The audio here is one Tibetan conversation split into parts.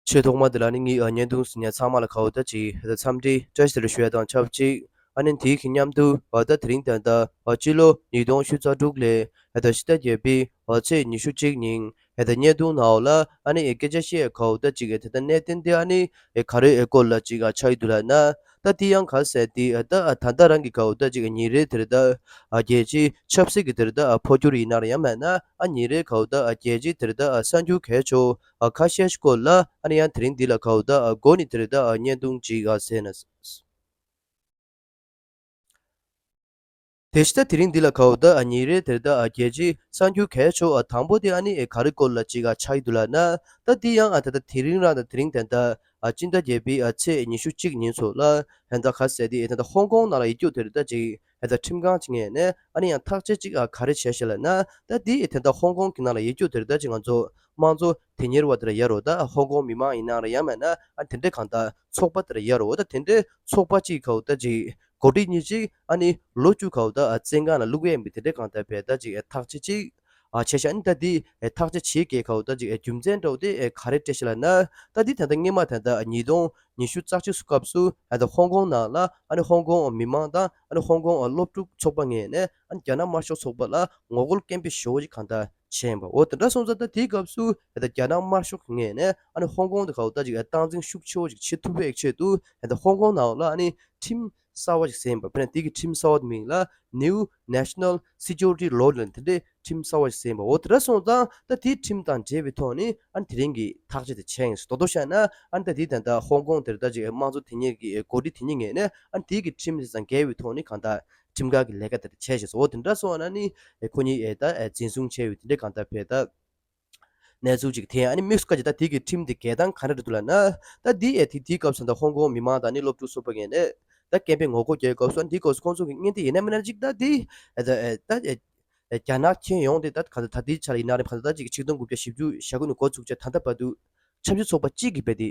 ཆེས་ཐོག་མ་དེ་ལ་ནི་ངའི་ཨ་མྱེས་དུང་སི་མྱེས་ཚང་མ་ལ་ཁ་བརྡ་གཅིག་དང་འཚམས་འདྲི་བཀྲ་ཤིས་རེ་ཞུ་བ་དང་ཆབས་ཅིག་ཨ་ནེ་དེའི་གི་མཉམ་དུ་ཨ་ལྟ་དེ་རིང་ད་ལྟ་ཨ་སྤྱི་ལོ་ཉིས་སྟོང་བཞུ་རྩ་དྲུག་ལས་ཨ་ད་ཕྱི་ཟླ་བརྒྱད་པའི་ཨ་ཚེས་ཉི་ཤུ་གཅིག་ཉིན་ཨ་ད་མྱེས་དུང་ནའོ་ལ་ཨ་ནེ་ཨའི་སྐད་ཆ་ཤས་ཁ་བརྡ་གཅིག་ཨ་དེ་ད་གནས་བརྟན་དེ་ཨ་ནེ་ཨའི་ཁ་རས་ཨའི་སྐོར་ལ་གཅིག་ཨ་ཆ་ཡི་དུ་ལ་ན་ད་དེ་ཡང་ག་ཟེར་ཏེ་ཨ་ད་ཨ་ད་ད་རང་གི་ཁ་བརྡ་གཅིག་ཨ་ཉིན་རེ་དེར་ད་ཨ་རྒྱལ་སྤྱིའི་ཆབ་སྲིད་ཀྱི་དེར་ད་ཨ་འཕོ་འགྱུར་ཡིན་ནར་ཡང་མེད་ན་ཨ་ཉིན་རེའི་ཁ་བརྡ་ཨ་རྒྱལ་སྤྱིའི་དེར་ད་ཨ་གསར་འགྱུར་གས་ཆོག་ཨ་ཁ་ཤས་ཤི་ཀོ་ལ་ཨ་ནི་ཡང་དེ་རིང་འདི་ལ་ཁའོ་ད་ཨ་སྒོ་ནི་དེ་རེད་ད་ཨ་བརྙན་ཐུང་ཅིག་ཨ་ཟེར་ན། དེ་ཤི་ད་དེ་རིང་འདི་ལ་ཁའོ་ད་ཨ་ཉིན་རེ་དེར་ད་ཨ་རྒྱལ་ཅིག་གསང་རྒྱུ་གས་ཆོག་ཨ་དང་པོ་དེ་ཨ་ནི་ཨེ་ག་རི་སྐོར་ལ་ཅིག་ཨ་ཆགས་ཡི་འདུག་ལ་ན། ད་འདི་ཡང་ཨ་ད་ད་དེ་རིང་རང་ད་དེ་རིང་དན་ད་ཨ་སྤྱི་ཟླ་བརྒྱད་པི་ཨ་ཚེས་ཉི་ཤུ་གཅིག་ཉིན་ཚོ་ལ་ཧན་ད་ཁ་ཟས་དེ་ཨེ་ད་ད་ཧོང་ཀོང་ནང་ལ་ཡི་རྒྱུགས་དེ་རེད་ད་ཅིག་ཨ་ཙི་ཁྲིམས་ཁང་ཅིག་ངས་ནས་ཨ་ནི་ཡང་ཐག་ཆད་ཅིག་ཨ་ག་རེ་བྱས་ཤེས་ལ་ན་ད་དེ་ཡི་དེ་ད་ཧོང་ཀོང་གི་ནང་ལ་ཡེ་རྒྱུགས་དེར་ད་ཅིག་ང་ཚོ་དམངས་གཙོ་དེ་ཉེར་བ་དེར་ཡ་རོ་ད་ཧོང་ཀོང་མི་མང་ཡིན་ནང་ར་ཡང་མེད་ན་ཨ་དེ་འདྲས་གང་ད་ཚོགས་པ་དེར་ཡ་རོ་ད་དེ་འདྲས་ཚོགས་པ་གཅིག་གའུ་ད་ཅིག་གོ་སྒྲིག་གཉིས་ཅིག་ཨ་ནི་ལོ་བཅུ་གའུ་ད་ཨ་ཙི་འགང་ལ་བླུགས་ཡས་མི་དེ་འདྲས་གང་ད་བས་ད་ཅིག་ཨ་ཐག་ཆད་ཅིག། བྱས་ཤིང་རྟ་འདི་ཐག་ཆ་ཇི་གེ་ཁའོ་རྟ་གཅིག་རྒྱུ་མཚན་འགྲོགས་ཏེ་ག་རེ་སྤྲད་ཤེས་ལ་ན། རྟ་འདི་ད་ལྟ་སྔས་མ་ད་ལྟ་ཉིས་སྟོང་ཉི་ཤུ་རྩ་གཅིག་སུ་སྐབས་སུ་ཨ་ད་ཧོང་ཀོང་ནང་ལ་ཨ་ནི་ཧོང་ཀོང་མི་མང་དང་ཨ་ནི་ཧོང་ཀོང་སློབ་ཕྲུག་ཚོགས་པ་ངེས་ནས་ཨ་ནི་རྒྱ་ནག་དམར་ཤོག་ཚོགས་པ་ལ་ངོ་རྒོལ་སྐད་འབོད་ཞོ་ཞིག་གང་ལྟར་བྱས་པ་འོ་དེ་འདྲ་སོང་ཙང་རྟ་དེའི་སྐབས་སུ་ད་ད་རྒྱ་ནག་དམར་ཤོག་གིས་ངེས་ནས་ཨ་ནི་ཧོང་ཀོང་དེ་ཁའོ་རྟ་གཅིག་སྟངས་འཛིན་ཤུགས་ཆེ་བོ་ཞིག་བྱེད་ཐུབ་པའི་ཆེད་དུ་ད་ད་ཧོང་ཀོང་ནང་ལ་ཨ་ནི་ཁྲིམས། གསར་བ་ཞིག་གསན་ཡོད་པ་དཔེར་ན་དེ་གའི་ཁྲིམས་གསར་བ་དེ་མིང་ལ New National Security Law ལ་འདི་འདྲའི་ཁྲིམས་གསར་བ་ཞིག་གསན་ཡོད་པ་འོ་དེ་འདྲ་སོང་ཙང་ད་དེའི་ཁྲིམས་དང་འབྲེལ་བའི་ཐོག་ནས་ཨ་ནི་དེ་རིང་གི་ཐག་ཆ་དེ་ཆད་ངེས་སོ་དོ་དོ་བཞག་ན་ཨ་ནི་ད་དེའི་ད་ལྟ་ཧོང་ཀོང་དེར་ད་ཅིག་དམངས་གཙོ་དེ་ཉིད་ཀྱི་གོ་སྒྲིག་དེ་ཉིད་ངེས་ནས་ཨ་ནི་དེའི་གི་ཁྲིམས་དེ་ཙང་འགལ་བའི་ཐོག་ནས་གང་ལྟར་ཁྲིམས་ཁང་གི་ལས་ཀ་དེ་ད་ཆད་ཞེས་སོ་འོ་དེ་འདྲ་སོང་ན་ནི་ཁོ་གཉིས་ད་འཛིན་བཟུང་བྱས་ཡོད་དེ་འདྲས་གང་ལྟར་བས་ད། གནས་ཚུལ་གཅིག་དེ་ཨ་ནི་མིག་སུ་ཀ་གྱིས་ད་ཐིག་གི་ཁྲིམས་དེ་འགལ་སྟངས་ག་འདྲ་རེད་འདུག་ལ་ན། ད་འདི་ཨེ་ཐིག་འདིའི་སྐབས་སུ་ད་ཧོང་ཀོང་མི་མང་དང་ནི་སློབ་ཕྲུག་སུ་པ་ངན་ནས། ད་སྐད་འཕེལ་ངོ་རྒོལ་རྒྱའི་སྐབས་སུ་འདིའི་སྐོར་སུ་ཁོང་ཚོ་གི་བརྙན་དེ་ཡིན་ན་མིན་ན་ཅིག་ད་འདི། ད་རྒྱ་ནག་མཁྱེན་ཡོང་དེ་ད་ག་ད་འདིའི་ཆ་ལ་ཡིན་ན་རེད་ག་ད་ད་ཅིག་ཆིག་སྟོང་དགུ་བརྒྱ་བཞི་བཅུ་ཞག་དགུ་ནས་འགོ་ཚུགས་ཆ་ད་འདི་བ་འདུག་ཆབ་སྲིད་ཚོགས་པ་གཅིག་གིས་རྦད་དེ།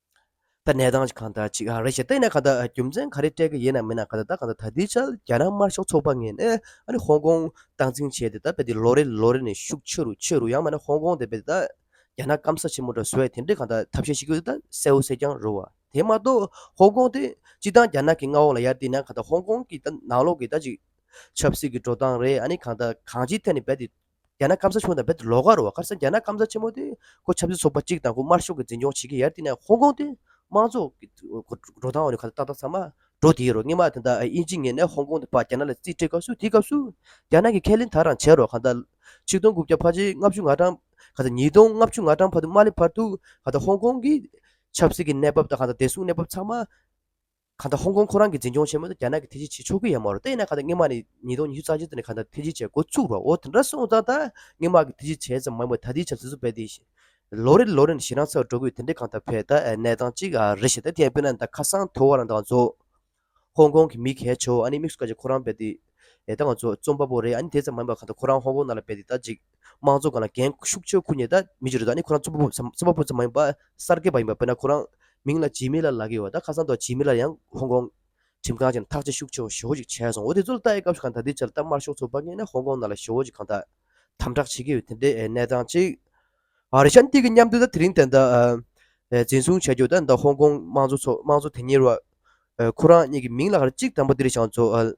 ད་གནས་སྟངས་གང་དག་ཅིག་རེད་ཞེས་བལྟས་ན་གང་དག་རྒྱུ་མཚན་ག་རེ་སྤྲད་ཀྱི་ཡིན་ནམ་མིན་ནམ་གང་དག་ད་གང་དག་ད་དེའི་ཆར་རྒྱ་ནག་དམར་ཤོག་ཚོགས་པ་ངན་ནས་ཨ་ནི་ཧོང་ཀོང་སྟངས་འཛིན་བྱས་ཏེ་ད་བལྟས་ལོ་རེ་ལོ་རེ་ནས་ཤུགས་ཆེ་རུ་ཆེ་རུ་ཡང་མ་ནི་ཧོང་ཀོང་དེ་བལྟས་ད་རྒྱ་ནག་སྐམ་ས་ཆེན་མོ་འདྲ་བཟོ་བས་དེ་འདྲས་གང་དག་ཐབས་ཤེས་ཤིག་ཡོད་ད་གསལ་བོ་གསལ་རྐྱང་རོལ་བ་དེ་མ་གཏོགས་ཧོང་ཀོང་དེ་སྤྱི་བཏང་རྒྱ་ནག་གི་མངའ་འོག་ལ་ཡར་བསྡད་ན་གང་དག་ཧོང་ཀོང་གི་ད་ནང་ལོག་གི་ད་ཅིག་ཆབ་སྲིད་ཀྱི་འགྲོ་སྟངས་རེད་ཨ་ནི་གང་དག་གང་ཅིའི་ཐད་ནས་བལྟས་ཏེ་རྒྱ་ནག་སྐམ་ས་ཆུང་དང་རྦད་དེ་ལོགས་ཀ་རུ་བ་ཁར་སང་རྒྱ་ནག་སྐམ་ས་ཆེན་མོ་དེ་ཁོ་ཆབ་སྲིད་ཚོགས་པ་གཅིག་དང་ཁོ་དམར་ཤོག་གི་འཛིན་སྐྱོང་བྱེད་ཀྱི་ཡར་བསྟི་ན་ཧོང་ཀོང་དེ་དམངས་གཙོ་གི་འགྲོ་སྟངས་འོག་ནས་ཁ་བཏགས་བཏགས་ཚར་མ་འགྲོ་དེའི་རུ་སྔེ་མ་དེ་འདའ་ཨིན་ཇི་ངེད་ནས་ཧོང་ཀོང་དེ་ཕ་རྒྱ་ནག་ལ་རྩིས་སྤྲད་སྐབས་སུ་དེའི་སྐབས་སུ་རྒྱ་ནག་གི་ཁས་ལེན་དག་རང་བྱས་རོགས་ཁ་བཏགས་ཆིག་སྟོང་དགུ་བརྒྱ་ཕ་ཆིག་ལྔ་བཅུ་ང་གྲངས་ཁ་བཏགས་ཉིས་སྟོང་ལྔ་བཅུ་ང་གྲངས་ཕ་དུ་མ་ལས་ཕར་ཐུག་ཁ་བཏགས་ཧོང་ཀོང་གི་ཆབ་སྲིད་ཀྱི་གནས་བབ་དང་ཁ་བཏགས་བདེ་སྲུང་གནས་བབ་ཚང་མ། ག་ད་ཧོང་ཀོང་ཁོ་རང་གི་འཛིན་སྐྱོང་ཆེན་མོ་དང་རྒྱ་ནག་གི་ཐེ་ཇི་བྱེད་ཆོག་གི་ཡ་མ་རོ་ད་ཡིན་ན་ག་ད་སྔོན་མ་ནས་ཉིས་སྟོང་ཉི་ཤུ་རྩ་གཅིག་ཙམ་ནས་ག་ད་ཐེ་ཇི་བྱས་འགོ་བཙུགས་པ་འོ་དེ་འདྲ་སོང་ཙང་ད་སྔོན་མ་གི་ཐེ་ཇི་བྱས་ཙམ་མང་བས་ད་དེའི་ཆབ་སྲིད་བཟོ་འབད་དེ་ཡིན། ལོ་རེ་ལ་ལོ་རེ་ནས་ཞེ་སྡང་ཚ་བ་འགྲོ་དགོས་དེ་འདྲའི་གང་ད་བོད་ད་གནས་སྟངས་གཅིག་རེད་ཞེ་ད་དེ་ཡང་དཔེར་ན་ད་ཁ་སང་ཐོ་བ་རང་ད་ང་ཚོ་ཧོང་ཀོང་གི་མི་གལ་ཆེ་བོ་ཨ་ནི་དམིགས་སུ་བཀར་ཅིག་ཁོ་རང་བལྟས་ཏེ་ད་ང་ཚོ་རྩོམ་པ་པོ་རེད་ཨ་ནི་དེ་ཙམ་མང་བས་ག་ད་ཁོ་རང་ཧོང་ཀོང་ནང་ལ་བལྟས་ཏེ་ད་ཅིག། དམངས་གཙོ་ལ་འགན་ཤུགས་ཆེ་ཁུར་ནས་ད་མི་བྱེད་རོགས་ད་ནི་ཁོ་རང་རྩོམ་པ་པོ་རྩོམ་པ་པོ་ཙམ་མ་ཡིན་པར་གསར་སྐྱེས་པ་ཡིན་པ་དཔེར་ན་ཁོ་རང་མིང་ལ་ཇི་མི་ལ་ལ་གི་ཡོད་ད་ཁ་སང་ཐོག་ཇི་མི་ལ་ཡང་ཧོང་ཀོང་ཁྲིམས་ཁང་ཆེན་ཐག་ཆེ་ཤུགས་ཆེ་བ་ཞོ་ཞིག་བྱས་སོང་འོ་དེ་ཚོ་ལ་ལྟ་ཡི་སྐབས་སུ་གང་ད་དེ་ཆ་ལ་ལྟ་དམར་ཤོག་ཚོགས་པ་ངན་ན་ཧོང་ཀོང་ནང་ལ་ཞོ་ཞིག་གང་ད་དམ་དྲག་བྱེད་ཀྱི་ཡོད་དེ་འདྲའི་གནས་སྟངས་ཅིག་རེད་ཤ་འདི་གི་མཉམ་དུ་ད་དེ་རིང་དེ་ད་འཛིན་བཟུང་བྱས་རྒྱུ་ད་ད་ཧོང་ཀོང་དམངས་གཙོ་དམངས་གཙོ་དེ་ཉེར་བ་ཁོ་རང་གཉིས་ཀྱི་མིང་ལ་ཁར་གཅིག་དམ་པོ་འདིར་བཞག་རྫོགས།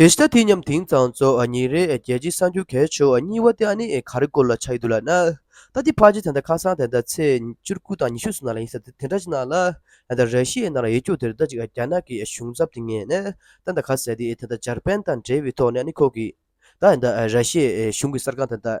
དེ་ལྟ་དེ་མཉམ་དེང་སང་ཚོ་ཉིན་རེ་རྒྱལ་སྤྱིའི་གསར་འགྱུར་གས་ཆོག་གཉིས་བ་དེ་ཨ་ནི་ག་རེ་སྐོར་ལ་ཆགས་ཡོད་འདུག་ལགས་ན། ད་ལྟའི་བར་གྱི་དེ་འདྲ་ཁ་སང་དེ་འདྲ་ཚེས་བཅུར་དགུ་དང་ཉི་ཤུ་སོ་ན་ལ་ཡིན་ཟེར་དེ་འདྲ་ཅིག་ནང་ལ་ཡང་དང་རེ་ཤི་ཡའི་ནང་ལ་ཡིག་རྒྱུགས་དེ་ལྟ་ཅིག་རྒྱ་ནག་གི་གཞུང་ཚབ་དེ་ངས་ནས་ད་འདའ་ག་ཟེར་དེ་དེ་འདྲ་འཇར་པན་དང་འབྲེལ་བའི་ཐོག་ནས་ཨ་ནི་ཁོ་གིས་ད་འདའ་ར་ཤི་ཡའི་གཞུང་གི་གསར་ཁང་དེ་འདའ་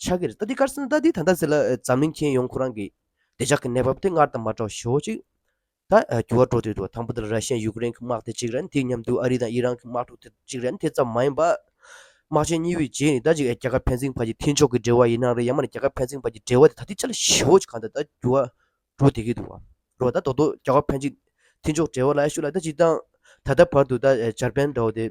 ཕྱག་གིར་རྟ་འདི་དཀར་སེར་རྟ་འདི་ད་ལྟ་ཟེར་ལ་འཛམ་གླིང་མཁྱེན་ཡོང་ཁོ་རང་གི་བདེ་འཇགས་ཀྱི་གནས་བབ་དེ་སྔར་དང་མ་འདྲ་བ་ཞོག་ཅིག་ད་འགྱུར་བ་འགྲོ་འདོད་འདུག་དང་པོ་དེ་ལ་ར་ཤི་ཡན་ཡུ་ཀེ་རེན་གྱི་དམག་དེ་གཅིག་རེད་འདི་སྙམ་འདུག་ཨ་རི་དང་ཨི་རན་གྱི་དམག་འཁྲུག་དེ་གཅིག་རེད་དེ་ཙམ་མ་ཡིན་པར། དམག་ཆེན་གཉིས་པོའི་རྗེས་ནི་ད་ཅིག་རྒྱ་གར་བྷན་སིང་བར་གྱི་མཐུན་ཕྱོགས་ཀྱི་འབྲེལ་བ་ཡིན་ནའང་རེད་ཡང་མ་ནི་རྒྱ་གར་བྷན་སིང་བར་གྱི་འབྲེལ་བ་དེ་ད་ལྟའི་ཆ་ལ་ཞོག་ཅིག་གང་ལྟར་ད་འགྱུར་བ་འགྲོ་བསྡད་ཀྱི་འདུག་རོགས་ཟླ་རྡོག་རྡོག་རྒྱ་གར་བྷན་སིང་མཐུན་ཕྱོགས་འབྲེལ་བ་ལ་ཨེ་ཞུ་ལ་ད་ཅིག་དང་ད་ལྟ་བར་དུ་ད་འཇར་པན་འདྲ་བོ་དེ།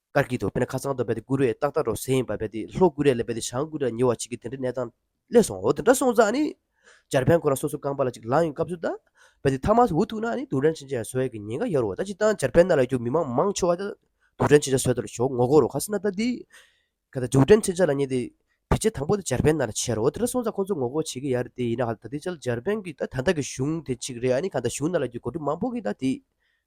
ཀར་གྱིས་དོ་པེ་ན་ཁ་ཚང་དོ་པེ་ཏི་ཀུ་རེ་ཏག་ཏག་རོ་སེ་ཡིན་པ་པེ་ཏི་ལྷོ་ཀུ་རེ་ལ་པེ་ཏི་བྱང་ཀུ་རེ་ལ་ཉེ་བ་གཅིག་གི་དེ་འདྲའི་གནས་སྟངས་སླེབས་སོང་འོ་དེ་འདྲ་སོང་ཙང་ནི། འཇར་པན་ཁོ་རང་སོ་སོའི་རྐང་པ་ལ་གཅིག་ལངས་ཡོང་སྐབས་སུ་ད། པེ་ཏི་ཐ་མག་འུ་ཐུག་ན་ནི་དུག་སྦྲང་ཆེན་ཆེ་ས་ཟོས་ཀྱི་ཉེན་ཁ་ཡོད་རོ་ད་ཅི་སྟངས་འཇར་པན་ན་ལ་རྒྱུག་མི་མང་མང་ཆེ་བ་ད། དུག་སྦྲང་ཆེན་ཆེ་ཟོས་ད་རུ་ཞོག་ངོ་རྒོར་རོ་ག་སེ་ན་ད་འདི། ཁ་ད་དུག་སྦྲང་ཆེན་ཆེ་ལ་ཉེ་སྟེ། བེད་སྤྱད་དང་པོ་ད་འཇར་པན་ན་ལ་བྱས་རོ་འོ་དེ་འདྲ་སོང་ཙང་ཁོ་ཚོ་ངོ་རྒོར་བྱེད་ཀྱི་ཡ་རེད་དེ་ཡིན་ན་ཧ་ད་དེ་ཅལ་འཇར་པན་གྱི་ད་ད་ལྟ་གི་གཞུང་དེ་གཅིག་རེད་ཨ་ནི་ག་ད་གཞུང་ན་ལ་རྒྱུག་གོ་སྒྲུབ་མང་པོ་གི་ད་དེ།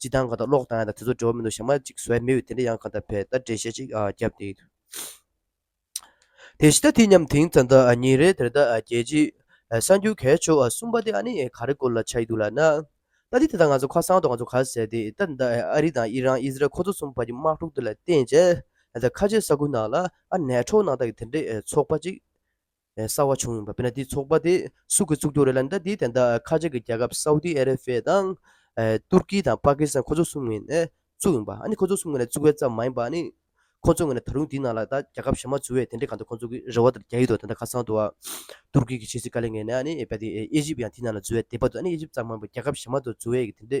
སྤྱི་བཏང་གང་དང་ཀློག་བཏང་ཡང་དེ་ཚོ་འབྲེལ་བ་མི་འདུག་ཞག་མ་གཅིག་བཟོས་མི་འོས་དེ་འདྲ་ཡང་གང་ལྟར་བས་ད་འགྲེལ་བཤད་ཅིག་རྒྱབ་སྟེ། དེ་ཤི་ད་དེ་མཉམ་དེང་ཙང་ཟླ་གཉིས་རེད་དེར་ད་རྒྱལ་སྤྱིའི། གསར་འགྱུར་གས་ཆོག་གསུངས་པ་དེ་ཨ་ནི་ག་རེ་སྐོར་ལ་ཆགས་ཡི་འདུག་ལ་ན། ད་དེ་དེ་དང་ང་ཚོ་ཁ་སང་དུ་ང་ཚོ་ག་ཟེར་ཏེ་ད་ད་ཨ་རི་དང་ཨི་རན་ཨི་ཟི་རལ་ཁོ་ཚོ་གསུམ་བར་གྱི་དམག་འཁྲུག་དེ་ལ་བརྟེན་བྱས། ད་ཁ་ཆེ་ས་ཁུལ་ནང་ལ་ཨ་ནེ་ཁྲོ་ནང་དག་གི་དེ་འདྲའི་ཚོགས་པ་གཅིག། གསར་བ་བྱུང་ཡོད་པ་དཔེར་ན་དེའི་ཚོགས་པ་དེ་སུ་གིས་བཙུགས་རྒྱུ་རེད་ལ་ཟླ་འདིའི་དན་དག་ཁ་ཆེ་གི་རྒྱལ་ཁབ་སའུ་ཏི་ཨ་རེ་བྷེ་དང། ཏུར་ཀི་དང་པཱ་ཀི་སི་ཐན་ཁོ་ཚོ་གསུམ་ངོས་ནས་བཙུགས་ཡོང་པ་ཨ་ནི་ཁོ་ཚོ་གསུམ་ངོས་ནས་བཙུགས་པའི་ཙམ་མ་ཡིན་པ་ཨ་ནི། ཁོ་ཚོ་ངོས་ནས་ད་རུང་དེའི་ནང་ལ་ད་རྒྱལ་ཁབ་གཞན་མ་བཙུགས་བས་དེ་འདྲའི་གང་འདུག་ཁོ་ཚོ་གི་རེ་བ་དང་རྒྱ་ཡིག་ཏུ་དན་དག་ཁ་ཚང་འདུག་བ། ཏུར་ཀི་གི་ཕྱི་སྲིད་བཀའ་ལས་ངོས་ནས་ཨ་ནི་ཨེ་ཇིབ་ཡང་དེའི་ནང་ལ་འཛུལ་བས་དེ་བར་དུ་ཨ་ནི་ཨེ་ཇིབ་ཙམ་མ་ཡིན་པར་རྒྱལ་ཁབ་གཞན་མ་དུ་བཙུགས་བས་དེ་འདྲའི་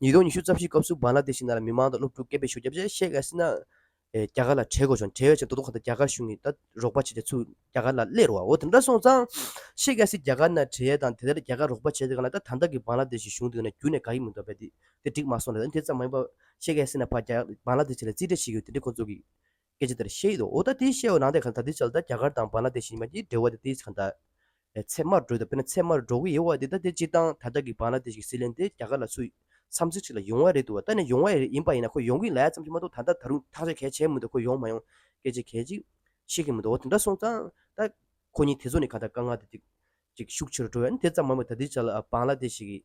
ཉིས་སྟོང་ཉི་ཤུ་རྩ་བཞིའི་སྐབས་སུ་བཱང་ལ་དེ་ཤི་ནཱ་ལ་མི་མང་དང་སློབ་ཕྲུག་སྐད་འབོད་ཞུ་རྒྱབ་རྗེས་ཤེ་ཀ་སི་ནཱ་ཡིས་རྒྱ་གར་ལ་གྲལ་དགོས་བྱུང་གྲལ་ཡོད་ཕྱིར་མདོ་སྟོད་ཁ་ཐག་རྒྱ་གར་གཞུང་གིས་ད་རོགས་པ་བྱས་ཏེ་ཚུར་རྒྱ་གར་ལ་སླེབས་རོགས་འོ་དེ་འདྲ་སོང་ཙང། ཤེ་ཀ་སིས་རྒྱ་གར་ནང་གྲལ་ཡོད་དང་དེ་ལྟར་རྒྱ་གར་རོགས་པ་བྱས་ཏེ་གང་ལ་ད་ད་ལྟ་གི་བཱང་ལ་དེ་ཤིའི་གཞུང་དེ་ནི་རྒྱུན་ནས་དགའ་ཡི་མི་འདུག་པས་དེ་འགྲིག་མ་སོང་རེད་འོན་ཏེ་དེ་ཙམ་མ་ཡིན་པར་ཤེ་ཀ་སི་ནཱ་ཕར་རྒྱ་བཱང་ལ་དེ་ཤི་ལ་རྩིས་སྤྲད་བྱེད་ཀྱི་ཡོད་དེ་འདྲས་ཁོང་ཚོ་གིས་སྐད་ཆ་དེར་ཤེས་ཡོད་འོ་ད་དེའི་ཤེས་ཡོད་ནང་དེ་ག་ད་དེའི་ཆ་ལ་ད་རྒྱ་གར་དང་བར་ན་དེ་བཞིན་མ་གྱི་འབྲེལ་བ་དེ་དེའི་ཆ་ད། ཚད་མར་འགྲོ་ད་དཔེར་ན་ཚད་མར་འགྲོ་གི་ཡོད་བ་དེ་ད་དེ་སྤྱིར་བཏང་ད་ལྟ་གི་བར་ན་དེ་བཞིན་སི་ལན་དེ་རྒྱ་གར་ལ་སུ་ཡིས་མཚམས་ཚིགས་གཅིག་ལ་ཡོང་བ་རེད་འདུག་བ་ད་ནི་ཡོང་བ་ཡིན་ཡིན་པ་ཡིན་ན་ཁོ་ཡོང་གི་ལའི་ཙམ་གྱི་མ་གཏོགས་ད་ལྟ་ད་རུང་ཐག་ཆ་གལ་ཆེན་མི་འདུག་ཁོ་ཡོང་མ་ཡོང་སྐད་ཆ་གལ་ཆེ་ཤེས་ཀྱི་མི་འདུག་འོ་དེ་འདྲ་སོང་ཙང་ད། ཁོ་གཉིས་དེ་ཚོ་ནི་ག་ད་དཀའ་ངལ་དེ་ཅིག་ཤུགས་ཆེ་རུ་འགྲོ་བས་ན་དེ་ཙམ་མ་མི་ད་དེའི་ཆ་ལ་བར་ན་དེ་ཞིག་གིས།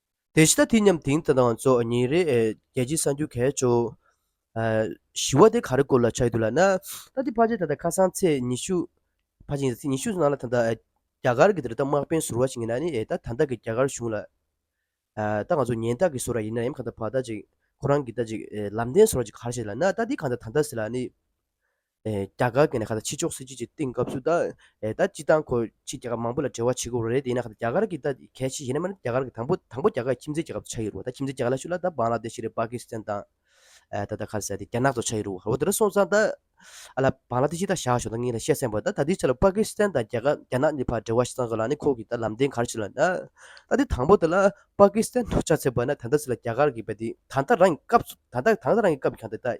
དེ་ཕྱི་ད་དེ་མཉམ་དེང་དང་ཚོགས་གཉིས་རེད་རྒྱལ་སྤྱིའི་གསར་འགྱུར་གས་ཆོ། བཞི་བ་དེ་ག་རེ་སྐོར་ལ་ཆགས་ཡོད་འདུག་ལ་ན། ད་དེ་ཕ་ཆེ་ད་ད་ཁ་སང་ཚེས་ཉི་ཤུ། ཕ་ཆེ་ཡིན་ཟེར་ཚེས་ཉི་ཤུ་ནང་ལ་ད་ད་རྒྱ་གར་གི་དེ་རེད་ད་དམག་དཔོན་ཟུར་བ་ཞིག་ཡིན་ན་ནི་ད་ད་ལྟ་གི་རྒྱ་གར་གཞུང་ལ། ད་ང་ཚོ་ཉེན་རྟགས་ཀྱི་ཟུར་ར་ཡིན་ན་ཡང་གང་ད་ཕ་ད་ཅིག་ཁོ་རང་གི་ད་ཅིག་ལམ་བདེན་ཟུར་བ་ཅིག་ག་རེ་བྱེད་ལ་ན་ད་དེ་གང་ད་ད་ཟེར་ལ་ནི། རྒྱ་གར་གྱི་ཕྱི་ཕྱོགས་སྲིད་ཇུས་ཀྱི་སྟེང་སྐབས་སུ་སྤྱི་བཏང་ཁོ་ཕྱིས་རྒྱ་གར་མང་པོ་ལ་འབྲེལ་བ་བྱེད་དགོས་པ་རེད་དེ་ཡིན་ན་རྒྱ་གར་གྱི་གལ་ཆེ་ཤོས་ནི་རྒྱ་གར་གྱི་དང་པོ་དང་པོ་རྒྱ་གར་ཁྱིམ་མཚེས་རྒྱལ་ཁབ་ཏུ་ཆགས་ཡོད་རེད་ཁྱིམ་མཚེས་རྒྱ་གར་ལ་ཞུགས་ལ་བཱན་ལ་དེ་ཤི་རེད་པཱ་ཀི་སི་ཐན་དང་ད་ལྟ་ཁ་ཟས་དེ་རྒྱ་ནག་ཏུ་ཆགས་ཡོད་རེད་འོ་དེ་འདྲ་སོང་ཙང་ད་ཨ་ལ་བཱན་ལ་དེ་ཤི་ད་བཞག་ཞོག་ད་ངས་ད་བཤད་སེམས་པ་ད་ད་དེའི་ཆ་ལ་པཱ་ཀི་སི་ཐན་དང་རྒྱ་ནག་གཉིས་བར་འབྲེལ་བ་བྱེད་ཙང་ཟོ་ལ་ནི་ཁོ་གིས་ད་ལམ་སྟན་གར་བྱེད་ལ་ད་ད་དེ་དང་པོ་དེ་ལ་པཱ་ཀི་སི་ཐན་དུ་ཆགས་ཚེ་བཱན་ད་ད་ཟེར་ལ་རྒྱ་གར་གྱི་བ་དེ་ད་ད་རང་གི་སྐབས་སུ་ད་ད་ད་རང་གི་སྐབས་ཀྱང་དེ་ད།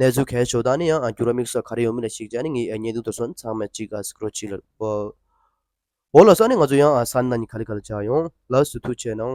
གནས་ཚུལ་གལ་ཆེ་བོ་དག་ནི་ཡང་བསྐྱུར་བ་དམིགས་བསལ་ག་རེ་ཡོང་མིན་ལ་གཞིགས་བྱས་ནས་ངའི་བརྙན་ཐུང་དུ་སོན་ཚང་མས་ཅི་དགའ་སི་ཁྲོ་ཆི་ལ་ཨོ་ལ་ས་ནི་ང་ཚོ་ཡང་ས་ནི་ན་ནི་ག་ལི་ག་ལ་བྱ་ཡོང་ལ་སུ་ཐུག་ཆེ་གནང།